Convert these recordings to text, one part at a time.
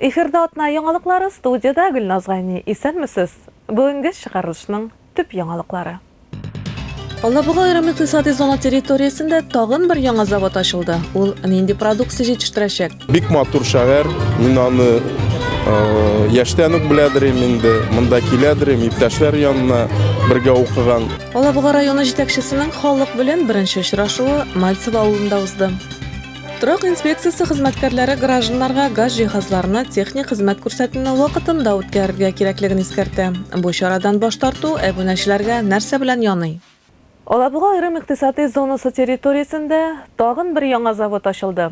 Эфирда атна яңалыклары, студиядә Гөлназ Гайни. Исәнмесез! Бүгенге чыгарылышның төп яңалыклары. Алабуга аерым икътисади зона территориясендә тагын бер яңа завод ачылды. Ул нинди продукция җитештерәчәк? Бик матур шәһәр. Мин аны яшьтән үк беләдер идем инде. Монда киләдер идем, иптәшләр янына бергә укыган. Алабуга районы җитәкчесенең халык белән беренче очрашуы Мальцево авылында узды. Торак инспекциясе хезмәткәрләре гражданнарга газ җиһазларына техник хезмәт күрсәтүне вакытында үткәрергә кирәклеген искәртә. Бу чарадан баш тарту әбүнәчеләргә нәрсә белән яный? Алабуга аерым икътисадый зонасы территориясендә тагын бер яңа завод ачылды.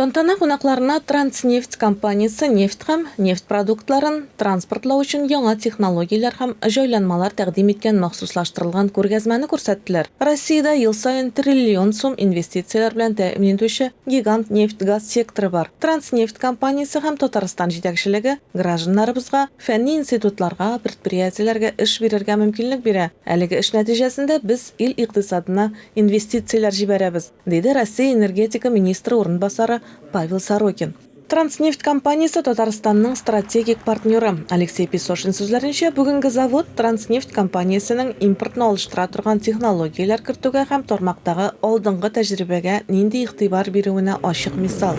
Тантана кунакларына Транснефть компаниясе нефть һәм нефть продуктларын транспортлау өчен яңа технологияләр һәм җайланмалар тәкъдим иткән махсуслаштырылган күргәзмәне күрсәттеләр. Россиядә ел саен триллион сум инвестицияләр белән тәэмин итүче гигант нефть-газ секторы бар. Транснефть компаниясе һәм Татарстан җитәкчелеге гражданнарыбызга, фәнни институтларга, предприятиеләргә эш бирергә мөмкинлек бирә. Әлеге эш нәтиҗәсендә без ил икътисадына инвестицияләр җибәрәбез. Диде Россия энергетика министры урынбасары Павел Сорокин. Транснефть компаниясе Татарстанның стратегик партнеры. Алексей Песошин сүзләренчә, бүгенге завод Транснефть компаниясенең импортны алыштыра торган технологияләр кертүгә һәм тармактагы алдынгы тәҗрибәгә нинди игътибар бирүенә ачык мисал.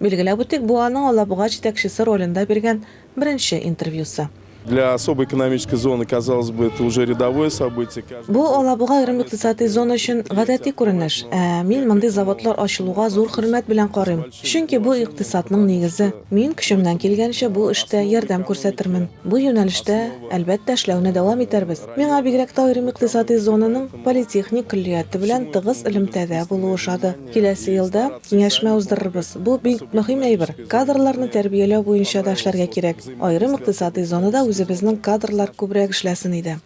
Билгеләп үтик, бу аның Алабуга җитәкчесе ролендә биргән беренче интервьюсы. Для особой экономической зоны, казалось бы, это уже рядовое событие. Бу Алабуга аерым икътисадый зона өчен гадәти күренеш. Ә мин мондый заводлар ачылуга зур хөрмәт белән карыйм. Чөнки бу икътисадның нигезе. Мин көчемнән килгәнчә бу эштә ярдәм күрсәтермен. Бу юнәлештә, әлбәттә, эшләүне дәвам итәрбез. Миңа бигрәк тә аерым икътисадый зонаның политехник көллияте белән тыгыз элемтәдә булу ошады. Киләсе елда киңәшмә уздырырбыз. Бу, бик мөһим әйбер. Кадрларны тәрбияләү буенча да эшләргә кирәк. Аерым икътисадый зонада үзебезнең кадрлар күбрәк эшләсен иде.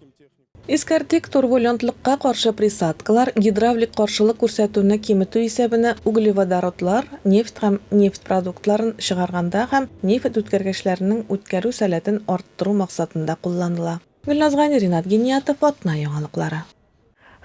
Искәртик, турбулентлыкка каршы присадкалар, гидравлик каршылык күрсәтүне киметү исәбенә углеводородлар, нефть һәм нефть продуктларын чыгарганда һәм нефть үткәргечләренең үткәрү сәләтен арттыру максатында кулланыла. Гөлназ Гани, Ринат Гениятов, Атна яңалыклары.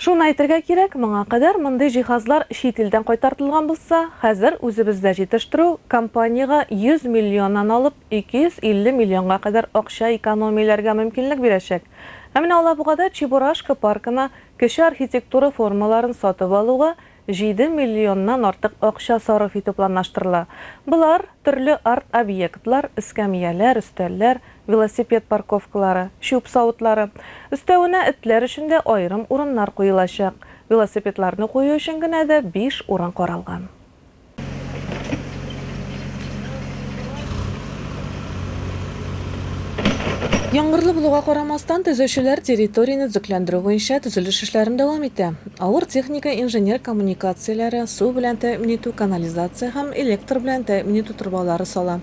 Шуны әйтергә кирәк, моңа кадәр мондый җиһазлар чит илдән кайтартылган булса, хәзер үзебездә җитештерү компаниягә 100 миллионнан алып 250 миллионга кадәр акча экономияләргә мөмкинлек бирәчәк. Ә менә Алабугада Чебурашка паркына кече архитектура формаларын сатып алуга Җиде миллионнан артык акча сарыф итү планлаштырыла. Болар, төрле арт-объектлар, эскәмияләр, өстәлләр, велосипед парковкалары, чүп савытлары. Өстәвенә, этләр өчен дә аерым урыннар куелачак. Велосипедларны кую өчен генә дә биш урын каралган. Яңгырлы булуга карамастан, төзүчеләр территорияне төзекләндерү буенча төзелеш эшләрен дәвам итә. Авыр техника инженер коммуникацияләре, су белән тәэмин итү, канализация һәм электр белән тәэмин итү торбалары сала.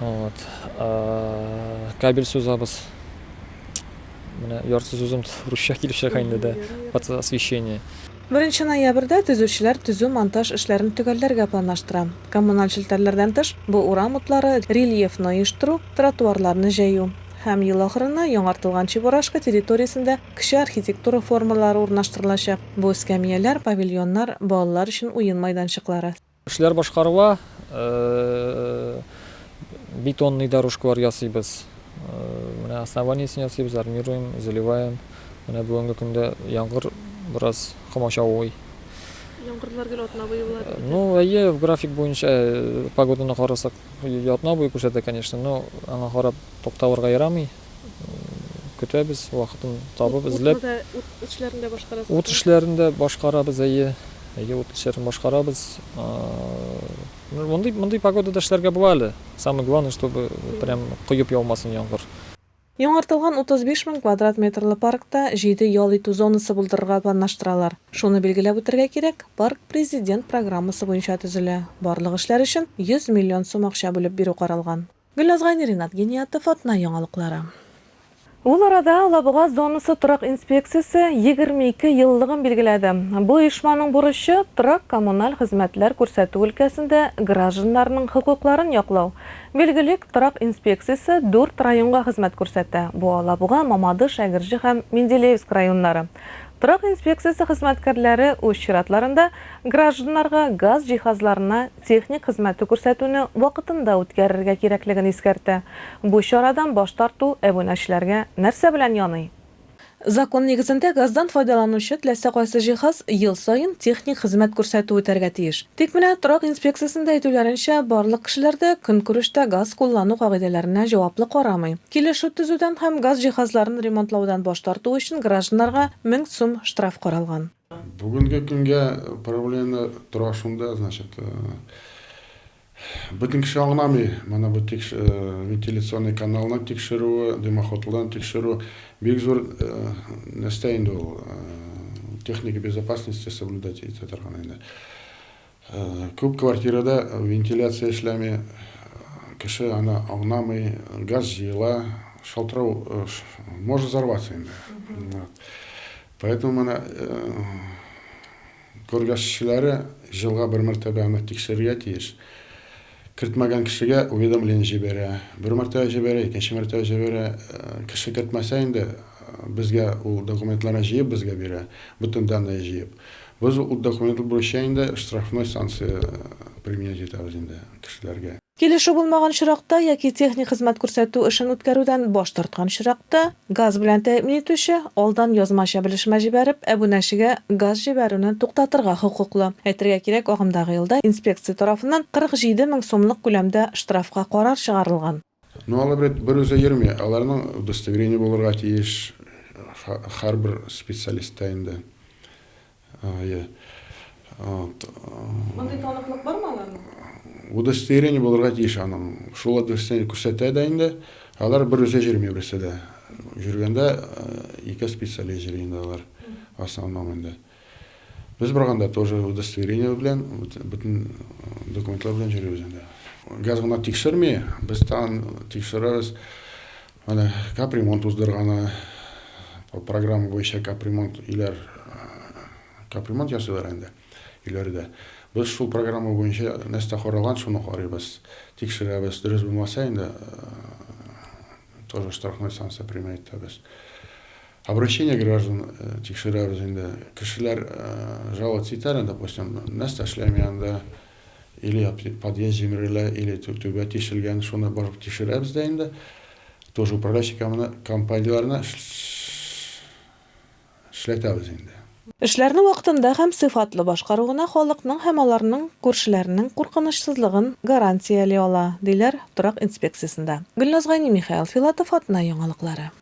Вот. Кабель сузабыз. Менә ярсыз үзем русча килеп чыга инде дә. Под освещение. Беренче ноябрьдә төзүчеләр төзү-монтаж эшләрен төгәлләргә планлаштыра. Коммуналь челтәрләрдән тыш, бу урам утлары, рельефны оештыру, тротуарларны җәю. Һәм ел ахырына яңартылган Чебурашка территориясендә кече архитектура формалары урнаштырылачак, бу эскәмияләр, павильоннар, балалар өчен уен майданчыклары. Эшләр башкарыла, бетонный дорожкалар ясыйбыз, менә основаниесен ясыйбыз, армируем, заливаем. Менә бүгенге көндә яңгыр бераз комачаулый. Яңгырлар гел атна буе була бит. Ну, әйе, в график буенча погоданы карасак, атна буе күрсәтә, конечно, но аңа карап тукталырга ярамый. көтәбез, вакытын табып, эзләп. Утны да, ут эшләрен дә башкарасызмы? Ут эшләрен дә башкарабыз, әйе. Әйе, ут эшләрен башкарабыз. Мондый, мондый погодада эшләргә була әле. Самое главное, чтобы прям коеп яумасын яңгыр. Яңартылган 35 мең квадрат метрлы паркта җиде ял итү зонасы булдырырга планлаштыралар. Шуны билгеләп үтәргә кирәк, парк Президент программасы буенча төзелә, барлык эшләр өчен 100 миллион сум акча бүлеп бирү каралган. Гөлназ Гайни, Ринат Гениятов, Атна яңалыклары. Ул арада Алабуга зонасы торак инспекциясе егерме ике еллыгын билгеләде. Бу оешманың бурычы, торак-коммуналь хезмәтләр күрсәтү өлкәсендә гражданнарның хокукларын яклау. Билгелик, торак инспекциясе дүрт районга хезмәт күрсәтә, бу Алабуга, Мамадыш, Әгерҗе һәм Менделеевск районнары. Торак инспекциясе хезмәткәрләре үз чиратларында гражданнарга газ җиһазларына техник хезмәте күрсәтүне вакытында үткәрергә кирәклеген искәртә. Бу чарадан баш тарту әбунәчеләргә нәрсә белән яный? Закон нигезендә газдан файдаланучы теләсә кайсы җиһаз ел саен техник хезмәт күрсәтү үтәргә тиеш. Тик менә торак инспекциясендә әйтүләренчә, барлык кешеләр дә көнкүрештә газ куллану кагыйдәләренә җаваплы карамый. Килешү төзүдән һәм газ җиһазларын ремонтлаудан баш тарту өчен гражданнарга мең сум штраф каралган. Бүгенге көнгә проблема тора шунда, значит, э, бөтен кеше аңламый, менә бу тикш, э, вентиляционный каналны тикшерүе, дымоходларын тикшерү бик зур э, нәрсә инде ул, э, техника безопасности соблюдать итә торган инде. Күп квартирада вентиляция эшләми, кеше аны аңламый, газ җыела, шалтырау может взорваться инде. Поэтому моны күргәзчеләре җылга бер мәртәбә аны тикшерергә тиеш. Кертмәгән кешегә уведомление җибәрә. Бер мәртәбә җибәрә, икенче мәртәбә җибәрә. Кеше кертмәсә инде, безгә ул документларны җыеп безгә бирә, бөтен данные җыеп. Без ул документлар буенча инде штрафной санкция применять итәбез инде кешеләргә. Килешү булмаган очракта яки техник хезмәт күрсәтү эшен үткәрүдән баш тарткан очракта, Газ белән тәэмин итүче, алдан язмача белешмә җибәреп, әбүнәчегә газ җибәрүне туктатырга хокуклы. Әйтергә кирәк, агымдагы елда инспекция тарафыннан 47 мең сумлык күләмдә штрафка карар чыгарылган. Но алар бит берүзе йөрми, аларның удостоверение булырга тиеш һәрбер специалистта инде. Ае. Ат. Мондый таныклык бармы аларның? Удостоверение булырга тиеш аның. Шул удостоверение күрсәтә дә инде. Алар бер үзе җөрми берсе дә. Җөргәндә ике специалист җөрий инде алар. Основном инде. Без барганда тоже удостоверение белән, бөтен документлар белән җөрибез инде. Газ гына тикшерми, без тагын тикшерәбез. Менә капремонт уздырганы, программа буенча капремонт өйләр капремонт ясыйлар инде өйләрдә. Без шул программа буенча нәрсә каралган, шуны карыйбыз, тикшерәбез. Дөрес булмаса инде тоже штрафной санкция применять итәбез. Обращение граждан тикшерәбез инде. Кешеләр жаловаться итәр, допустим, нәрсә эшләми анда, Или подъезд җимерелә, или түбә тишелгән, шуны барып тишерәбез дә инде. Тоже управляющий компанияләренә эшләтәбез инде. Эшләрне вакытында һәм сыйфатлы башкару гына халыкның һәм аларның күршеләренең куркынычсызлыгын гарантияли ала, диләр торак инспекциясендә. Гөлназ Гайнимихаил Филатов атна яңалыклары.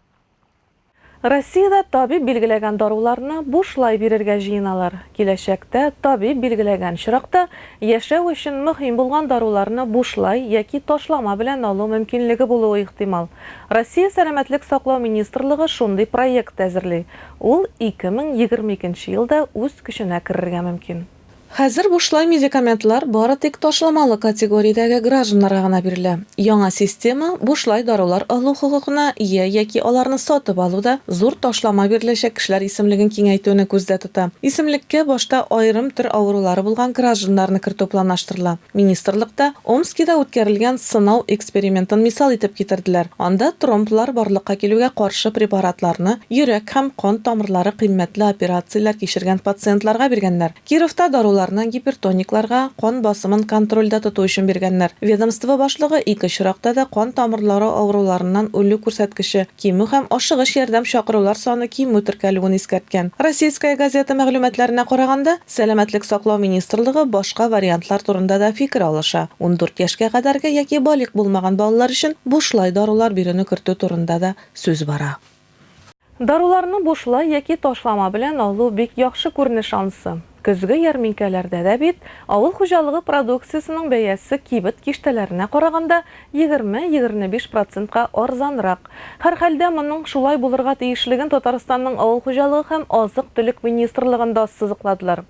Россиядә табиб билгеләгән даруларны бушлай бирергә җыеналар. Киләчәктә табиб билгеләгән чоракта яшәү өчен мөһим булган даруларны бушлай яки ташлама белән алу мөмкинлеге булуы ихтимал. Россия Сәламәтлек саклау министрлыгы шундый проект әзерли, ул 2022 елда үз көченә керергә мөмкин. Хәзер бушлай медикаментлар бары тик ташламалы категориядәге гражданнарга гына бирелә. Яңа система бушлай дарулар алу хокукына ия яки аларны сатып алуда зур ташлама биреләчәк кешеләр исемлеген киңәйтүне күздә тота. Исемлеккә башта аерым төр авырулары булган гражданнарны кертү планлаштырыла. Министрлыкта Омскида үткәрелгән сынау экспериментын мисал итеп китерделәр. Анда тромблар барлыкка килүгә каршы препаратларны йөрәк һәм кан тамырлары кыйммәтле операцияләр кичергән пациентларга биргәннәр. Кировта даруларны гипертоникларга, кан басымын контрольдә тоту өчен биргәннәр. Ведомство башлыгы ике очракта да кан тамырлары авыруларыннан үлү күрсәткече кимү һәм ашыгыч ярдәм чакырулар саны кимү теркәлүен искәрткән. Российская газета мәгълүматларына караганда, Сәламәтлек саклау министрлыгы башка вариантлар турында да фикер алыша. Ундүрт яшькә кадәрге яки балигъ булмаган балалар өчен бушлай дарулар бирүне кертү турында да сүз бара. Даруларны бушлай яки ташлама белән алу бик яхшы күренеш ансы. Көзге ярминкәләрдә дә бит авыл хуҗалыгы продукциясенең бәясе кибет киштәләренә караганда егерме-егерне биш процентка арзанрак. Һәрхәлдә, моның шулай булырга тиешлеген Татарстанның авыл хуҗалыгы һәм азык-төлек министрлыгында ассызыкладылар.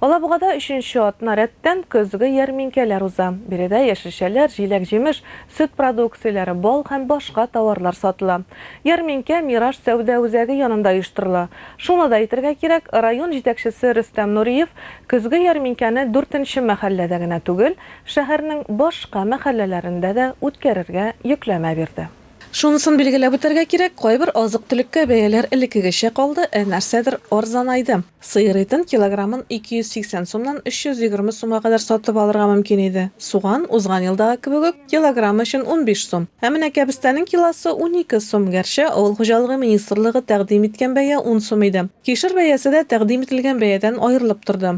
Алабугада өченче атна рәттән көзге ярминкәләр уза. Биредә яшелчәләр, җиләк-җимеш, сөт продукцияләре, бал һәм башка тауарлар сатыла. Ярминкә Мираж сәүдә үзәге янында оештырыла. Шуны да әйтергә кирәк, район җитәкчесе Рөстәм Нуриев көзге ярминкәне дүртенче мәхәлләдә генә түгел, Шәһәрнең башка мәхәлләләрендә дә үткәрергә йөкләмә бирде. Шунысын билгеләп үтәргә кирәк, кайбер азык-төлеккә бәяләр элеккегечә калды, ә нәрсәдер арзанайды. Сыер итен килограммын 280 сумнан 320 сумга кадәр сатып алырга мөмкин иде. Суган, узган елдагы кебек үк, килограммы өчен 15 сум. Ә менә кәбестәнең килосы, унике сум, гәрчә Авыл хуҗалыгы министрлыгы тәкъдим иткән бәя ун сум иде. Кишер бәясе дә тәкъдим ителгән бәядән аерылып торды.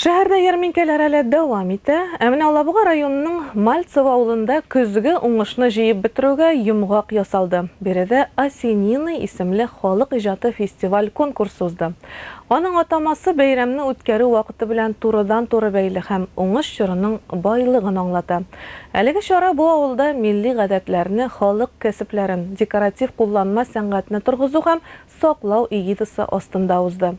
Шәһәрдә ярминкәләр әле дәвам итә. Ә менә Алабуга районының Мальцево авылында көзге уңышны җыеп бетерүгә йомгак ясалды. Биредә Осенины исемле халык иҗаты фестиваль-конкурсы узды. Аның атамасы бәйрәмне үткәрү вакыты белән турыдан-туры бәйле һәм уңыш чорының байлыгын аңлата. Әлеге чара бу авылда милли гадәтләрне, халык кәсепләрен, декоратив-кулланма сәнгатьне торгызу һәм саклау эгидасы астында узды.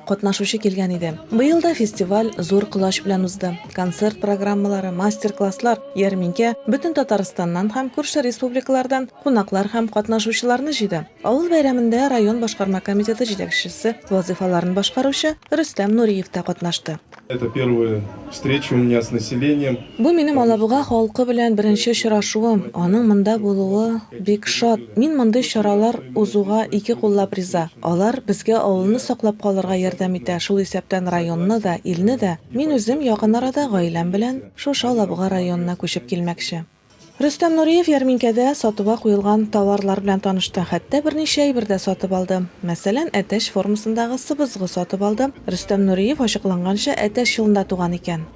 Катнашучы килгән иде. Быел да фестиваль зур колач белән узды. Концерт программалары, мастер-класслар, ярминкә бөтен Татарстаннан һәм күрше республикалардан кунаклар һәм катнашучыларны җыйды. Авыл бәйрәмендә район башкарма комитеты җитәкчесе вазыйфаларын башкаручы Рөстәм Нуриев та катнашты. Это первая встреча у меня с населением. Бу минем Алабуга халкы белән беренче очрашуым. Аның монда булуы бик шат. Мин мондый чаралар узуга ике куллап риза. Алар безгә авылны саклап калырга ярдәм итә, шул исәптән районны да, илне дә. Мин үзем якын арада гаиләм белән шушы Алабуга районына күчеп килмәкче. Рөстәм Нуриев ярминкәдә сатуга куелган товарлар белән танышты, хәтта берничә әйбер дә сатып алды. Мәсәлән, әтәч формасындагы сыбызгы сатып алды. Рөстәм Нуриев ачыкланганча, Әтәч елында туган икән.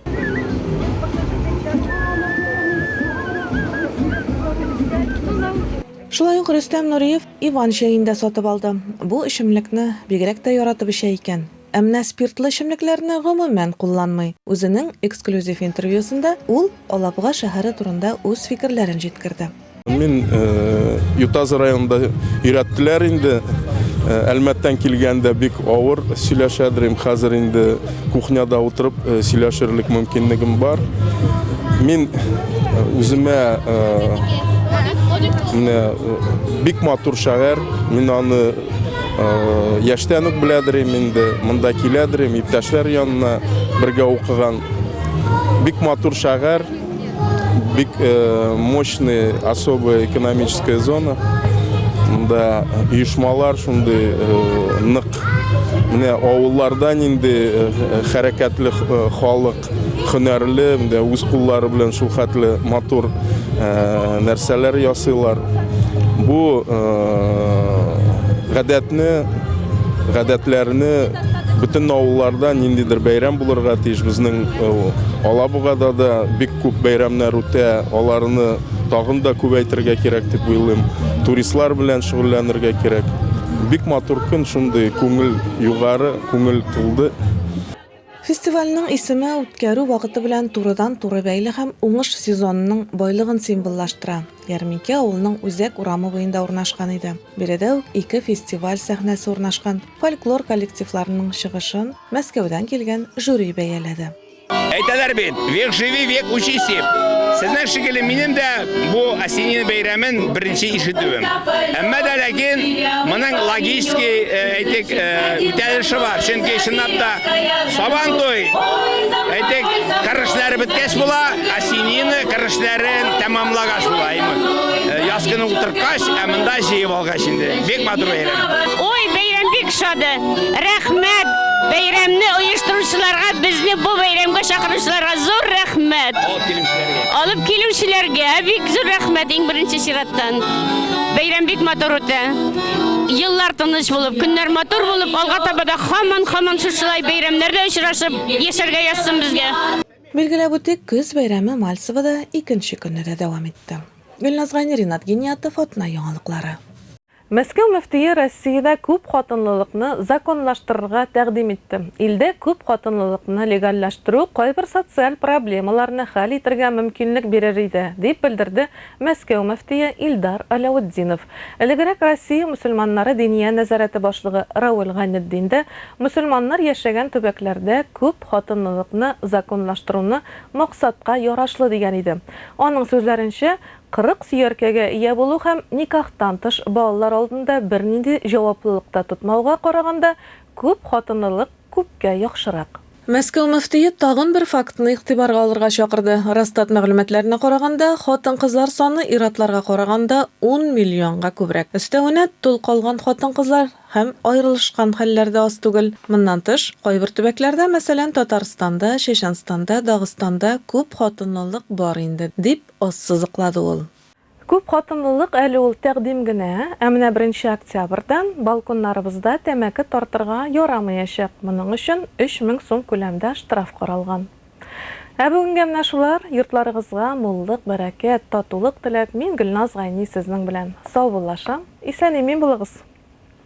Шулай ук Рөстәм Нуриев Иван чәен дә сатып алды. Бу эчемлекне бигрәк тә яратып эчә икән. Ә менә спиртлы эчемлекләрне гомумән кулланмый. Үзенең эксклюзив интервьюсында ул Алабуга шәһәре турында үз фикерләрен җиткерде. Мин Ютазы районында өйрәттеләр инде. Әлмәттән килгәндә бик авыр сөйләшәдер им. Хәзер инде кухняда утырып сөйләшерлек мөмкинлегем бар. Мин үземә менә бик матур шәһәр. Мин аны Яшьтән үк беләдер инде, монда киләдер, иптәшләр янына бергә укыган. Бик матур шәһәр, бик э, мощный особая экономическая зона. Монда оешмалар шундый э, нык. Менә авыллардан инде э, хәрәкәтле халык бик һөнәрле, менә үз куллары белән шул хәтле матур нәрсәләр ясыйлар. Бу гадәтне, гадәтләрне бөтен авылларда ниндидер бәйрәм булырга тиеш. Безнең э, Алабугада да бик күп бәйрәмнәр үтә, аларны тагын да күбәйтергә кирәк дип уйлыйм. Туристлар белән шөгыльләнергә кирәк. Бик матур көн, шундый күңел югары, күңел тулды. Фестивальнең исеме үткәрү вакыты белән турыдан-туры бәйле һәм уңыш сезонының байлыгын символлаштыра. Ярминкә авылның үзәк урамы буенда урнашкан иде. Биредә үк ике фестиваль сәхнәсе урнашкан. Фольклор коллективларының чыгышын Мәскәүдән килгән жюри бәяләде. Әйтәләр бит, век живи, век учись дип. Сезнең шикелле минем дә бу осенина бәйрәмен беренче ишетүем. Әмма дә ләкин моның логический Әйтик, үтәлеше бар, чөнки чынлап та сабан туй, әйтик, кырышлары беткәч була, осенины кырышларын тәмамлагач була. Яз көне утырткач, ә монда җыеп алгач инде. Бик матур бәйрәм. Ой, бәйрәм бик шады. Рәхмәт. Бәйрәмне оештыручыларга, безне бу бәйрәмгә чакыручыларга зур рәхмәт. Алып килүчеләргә. Алып килүчеләргә бик зур рәхмәт иң беренче чираттан. Бәйрәм бик матур үтә. еллар тыныч булып, көннәр матур булып, алга таба да хаман-хаман шушылай бәйрәмнәрдә очрашып, яшәргә язсын безгә. Билгеләп үтик, көз бәйрәме Мальцевода икенче көнне дә дәвам итте. Гөлназ Гайни, Ринат Гиниятов, Атна яңалыклары. Мәскәү мөфтие Россиядә күпхатынлылыкны законлаштырырга тәкъдим итте. Илдә күпхатынлылыкны легальләштерү кайбер социаль проблемаларны хәл итергә мөмкинлек бирер иде, дип белдерде Мәскәү мөфтие Илдар Аляутдинов, элегрәк Россия мөселманнары Диния нәзарәте башлыгы Равил Гайнетдин дә мөселманнар яшәгән төбәкләрдә күп хатынлылыкны законлаштыруны максатка ярашлы дигән иде. Аның сүзләренчә, 40 сөяркәгә ия булу һәм никахтан тыш балалар алдында бернинди җаваплылык та тотмауга караганда, күп хатынлылык, Күпкә яхшырак. Мәскәү мөфтие тагын бер фактны игътибарга алырга чакырды, Росстат мәгълүматларына караганда, хатын-кызлар саны ир-атларга караганда ун миллионга күбрәк. Өстәвенә, тол калган хатын-кызлар һәм аерылышкан хәлләр дә аз түгел. Моннан тыш, кайбер төбәкләрдә, мәсәлән, Татарстанда, Чәчәнстанда, Дагыстанда күп хатынлылык бар инде, дип ассызыклады ул. Күпхатынлылык әле ул тәкъдим генә, ә менә беренче октябрьдән балконнарыбызда тәмәке тартырга ярамыячак, моның өчен 3000 сум күләмдә штраф каралган. Ә бүгенгә менә шулар, йортларыгызга муллык, бәрәкәт, татулык теләп, мин Гөлназ Гайни сезнең белән саубуллашам, исән-имин булыгыз!